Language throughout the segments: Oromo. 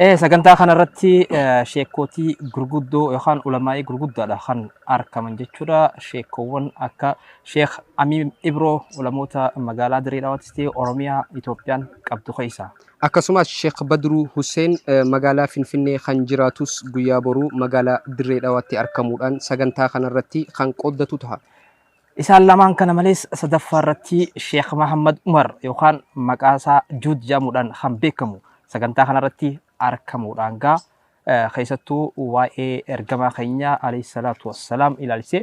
Eh, sagantaa kanarratti eh, sheekkootii gurguddoo yookaan ulamaa'ii gurguddaadha kan argaman jechuudha. Sheekkoowwan akka Sheek Amiin Ibroo ulamoota magaalaa Dirree Dhawaattis ta'e Oromiyaa Itoophiyaan qabdu keessaa. Akkasumas Sheek Badruu Huseen eh, magaalaa Finfinnee kan jiraatus guyyaa boruu magaalaa Dirree Dhawaatti argamuudhaan sagantaa kanarratti kan qooddatu taha. Isaan lamaan kana malees sadaffaa irratti Sheekh Mahammad Umar yookaan maqaa isaa Juud jedhamuudhaan kan beekamu sagantaa kanarratti argamuudhaan gaa keessattuu waa'ee ergamaa keenya alayhi salaatu wassalaam ilaalchisee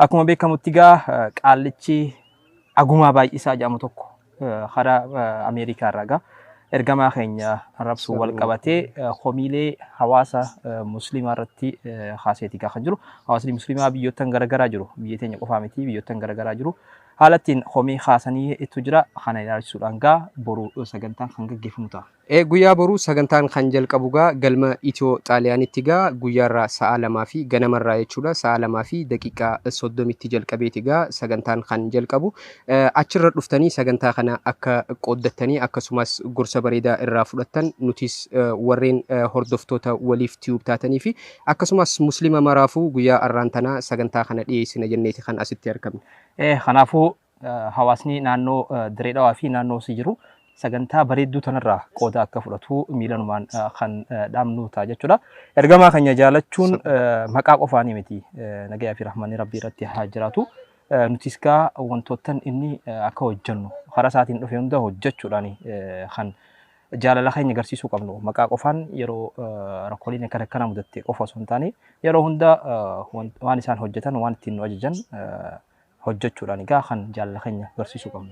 akkuma beekamutti gaa qaallichi agumaa baay'isaa jedhamu tokko Karaa Ameerikaa irraa egaa ergamaa keenya arrabsuun wal qabatee komiilee hawaasa musliimaa irratti kaaseeti egaa kan jiru. Hawaasni musliimaa biyyoottan garagaraa jiru. Biyya teenya qofaa miti biyyoottan garagaraa jiru. Haala ittiin komii kaasanii ittu jira. Kana ilaalchisuudhaan egaa boru sagantaan kan gaggeeffamu ta'a. Ee guyyaa boruu sagantaan kan jalqabu gaa galma Ethio Xaaliyaanitti gaa guyyaarraa sa'aa 2 fi ganamarraa jechuudha sa'aa 2 fi daqiiqaa 30 tti jalqabeeti gaa sagantaan kan jalqabu achirra dhuftanii sagantaa kana akka qooddattanii akkasumas gorsa bareedaa irraa fudhattan nutis warreen hordoftoota waliif tube taatanii fi akkasumas muslima maraafuu guyyaa arraan tanaa sagantaa kana dhiyeessina jenneeti kan asitti argamne. Ee kanaafuu hawaasni naannoo Diree Dhawaa fi naannoo si jiru sagantaa bareedduu tanarraa qooda akka fudhatu miilanumaan kan dhaamnu ta'a jechuudha. Ergamaa keenya jaalachuun maqaa qofaanii miti nagayaa fi rahmanni rabbii irratti haa jiraatu. Nutis gaa wantoottan inni akka hojjennu karaa isaatiin dhufe hunda hojjechuudhaan kan jaalala keenya agarsiisuu qabnu maqaa qofaan yeroo rakkooleen akka akkanaa mudatte qofa osoo hin taane yeroo hunda waan isaan hojjetan waan ittiin nu ajajan hojjachuudhaan egaa kan jaalala keenya garsiisuu qabnu.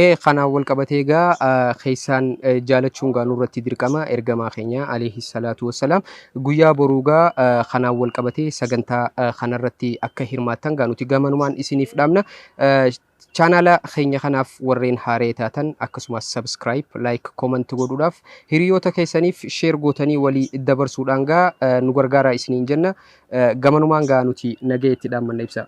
Ee kanaan wal qabatee egaa keessaan jaalachuun gaa nurratti dirqama ergamaa keenya alayhi salaatu wassalaam guyyaa boruu gaa kanaan wal qabatee sagantaa kanarratti akka hirmaattan gaa nuti gamanumaan isiniif dhaamna. Chaanaala keenya kanaaf warreen haaree taatan akkasumas subscribe, like, comment godhuudhaaf hiriyoota keessaniif share gootanii walii dabarsuudhaan gaa nu gargaaraa isiniin jenna. Gamanumaan gaa nuti nagaya itti dhaammanna ibsaa.